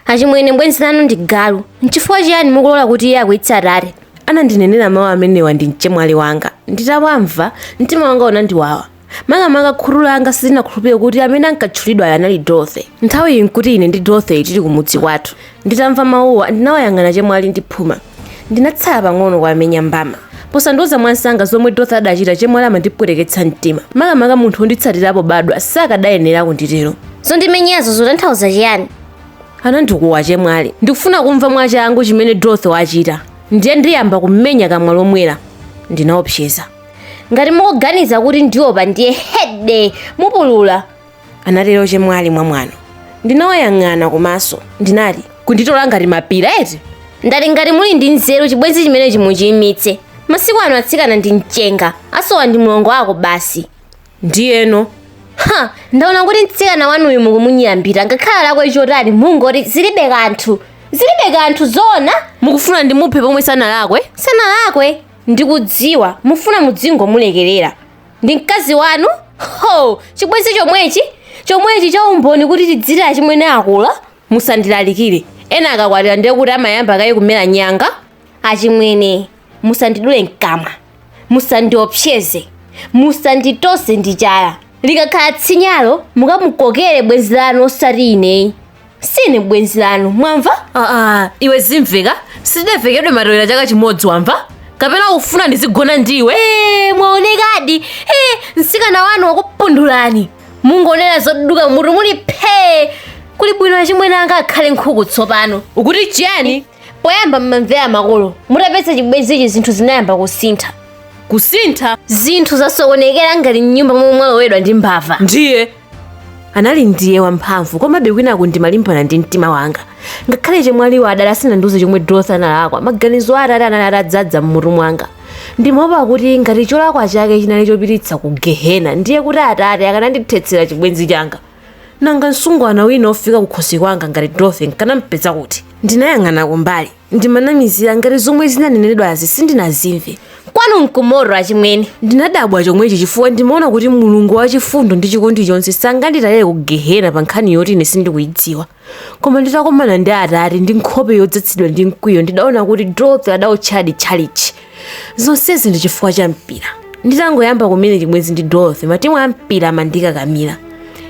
achimwene mbwenzi lanu ndi galu nchifukwa chiyani mukulola kuti iye akwiyitse atate anandinenera mawu amenewa ndi mchemwali wanga nditawamva mtima wanga unandiwawa makamaka khutu langa silinakhulupirire kuti amene ankatchulidwayo anali dorothy nthawi iyi nkuti ine ndi dorothy tili kumudzi kwathu nditamva mawuwa ndinawayang'ana chemwali ndi phuma ndinatsala pang'ono kuwamenya mbama posandiuza mwansanga zomwe dorothy adachita chemwali amandipweteketsa mtima makamaka munthu wonditsatira pobadwa sakadayenera kunditero zondimenyazo zotanthauza chiyani anandikuwa achemwali ndikufuna kumva mwachangu chimene dorothy wachita ndiye ndiyamba kummenya kamwa lomwelo ndinaopseza ngati mukuganiza kuti ndiopa ndiye hede mupulula anatero chemwali mwamwano ndinawayang'ana kumaso ndinati kunditola ngati mapira eti ndati ngati muli ndi nzeru chibwenzi chimenechi muchiyimitse masiku ano atsikana ndi mchenga asowa ndi mlongo ako basi ndiyeno ha ndaona kuti mtsikana wanuyu mukumunyambita ngakhale alakwe chotani mungoti zilibe kanthu zilibe kanthu zoona mukufuna ndimuphe pomwe sanalakwe sanalakwe ndikudziwa mufuna mudzingomulekerera ndi mkazi wanu ho chibwenzi chomwechi chomwechi cha umboni kuti tidziwe achimwene akula musandilalikire ena akakwatira ndiye kuti amayamba kaye kumera nyanga achimwene musandidule mkamwa musandiopseze musanditose ndi chala likakhala tsinyalo mukamukokere bwenzi lanu osati ineyi sine bwenzi lanu mwamva aa iwe zimveka sitidavekedwe matewera chaka chimodzi wamva kapena ufuna ndizigona ndiwe Eh, mwaonekadi Eh, mtsikana wanu wakupundulani mungonena zoduka mutu muli phee kuli bwino achimwene anga akhale nkhuku tsopano ukuti chiyani poyamba mmamvera makolo mutapeza chibwenzichi zinthu zinayamba kusintha kusintha zinthu zasokonekera ngati mnyumba momwe mwalowedwa ndi mbava ndiye anali ndiye wamphamvu komabe kwinaku ndimalimbana ndi mtima wanga ngakhale chemwaliwo adali asanandiuze chomwe dorothy analakwa maganizo a atate anali atadzadza m'mutu mwanga ndimaopa kuti ngati cholakwa chake chinali chopititsa ku gehena ndiye kuti atate akanandithetsera chibwenzi changa Nanga msungwana wina wofika kukhosi kwanga ngati Dorothy nkanampeza kuti? Ndinayang'ana kumbali, ndimanamizira ngati zomwe zinanenedwazi sindinazimve. Kwanu nkumoto achimwene. Ndinadabwa chomwechi chifukwa ndimaona kuti Mulungu wachifundo ndi chikondi chonse sanganditaye ku Gehena pa nkhani yoti ine sindikuidziwa. koma nditakumana ndi atate ndi nkhope yodzadzidwa ndi mkwiyo ndidaona kuti dorothy adaotchadi tchalichi zonsezi ndi chifukwa cha mpira nditangoyamba kumene chibwenzi ndi dorothy matimu a mpira amandikakamira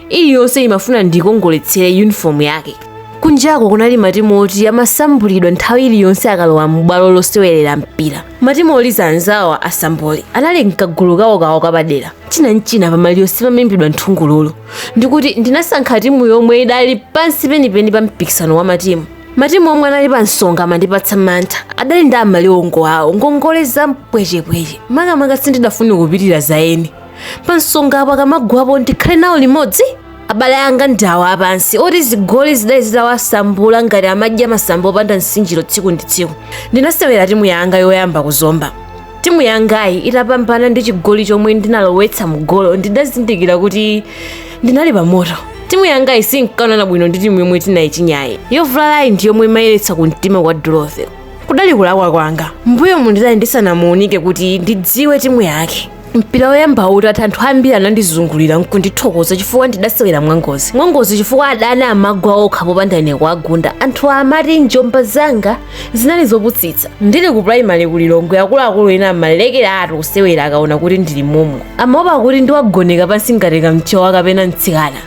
iliyonse imafuna ndikongoletsere yunifomu yake kunjako kunali matimu oti amasambulidwa nthawi iliyonse akalowa m'bwalo losewerera mpira matimu oliza anzawo asambuli anali mkagulu kawokawo kapadera china nchina pamaliro simaimbidwa nthungululu ndikuti ndinasankha timu yomwe idali pansi penipeni pa mpikisano wa matimu matimu omwe anali pa nsonga amandipatsa mantha adali ndi amaliwongo awo ngongole za mpwechepweche makamaka sindidafune kupitira za eni pa nsonga apo akamagwapo ndikhale nawo limodzi abale anga ndi awo apansi oti zigoli zidali zitawasambula ngati amadya masambo opanda nsinjiro tsiku ndi tsiku ndinasewera timu yanga yoyamba kuzomba Timu yangayi itapambana ndi chigoli chomwe ndinalowetsa mgolo ndidazindikira kuti ndinali pamoto. Timu yangayi sinkaonana bwino ndi timu yomwe tinayichinyayi. Yovulalayi ndi yomwe imayeretsa ku mtima kwa Dorothy. Kudali kulakwa kwanga. Mbuyomu ndidali ndisanamuunike kuti ndidziwe timu yake. mpira woyamba utatha anthu ambiri anandizungulira nkundithokoza chifukwa ndidasewera mwangozi mwangozi chifukwa adani amagwa okha popanda ine kuwagunda anthu amati njomba zanga zinali zoputsitsa ndili ku primary ku lilongwe akuluakulu ena amalekera ati kusewera akaona kuti ndili momo amaopa kuti ndiwagoneka pansi ngati kamchowa kapena mtsikana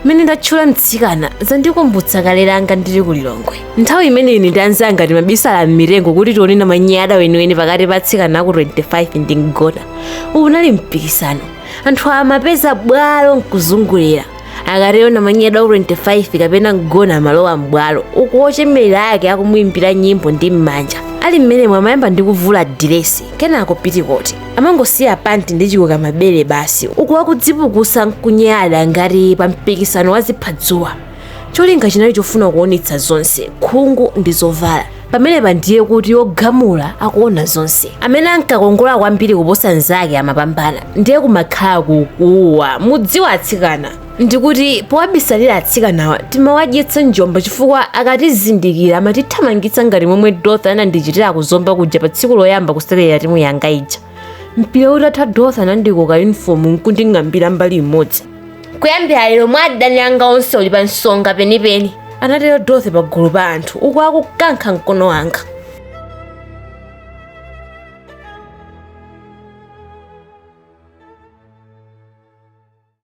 mmene ndatchula mtsikana zandikumbutsa kale langa ndili ku lilongwe nthawi imene ine ndi anzanga timabisala m'mitengo kuti tione namanyada weniweni pakati pa atsikana aku 25 ndi mgona uwu unali mpikisano anthu amapeza bwalo nkuzungulira akatero namanyada wa 25 kapena mgona amalowa m'bwalo uku ochemerera ake akumuimbira nyimbo ndi m'manja ali mmenemo amayamba ndi kuvula diresi kenako pitikoti amangosiya panti ndi chikoka mabere basi uku akudzipukusa nkunyada ngati pa mpikisano wa ziphadzuwa cholinga chinali chofuna kuonetsa zonse khungu ndi zovala pamenepa ndiye kuti ogamula akuona zonse amene ankakongola kwambiri kuposa mnzake amapambana ndiye kumakhala kukuwa mudziwa atsikana ndikuti powabisalira atsikanawa timawadyetsa njomba chifukwa akatizindikira amatithamangitsa ngati momwe dorothy anandichitira kuzomba kuja pa tsiku loyamba kusewerera timu yanga ija mpira utatha dorothy anandikoka yunifomu nkunding'ambira mbali imodzi kuyambira lero mwa adani anga onse uli pa nsonga penipeni anatero dorothy pagulu pa anthu uku akukankha mkono wanga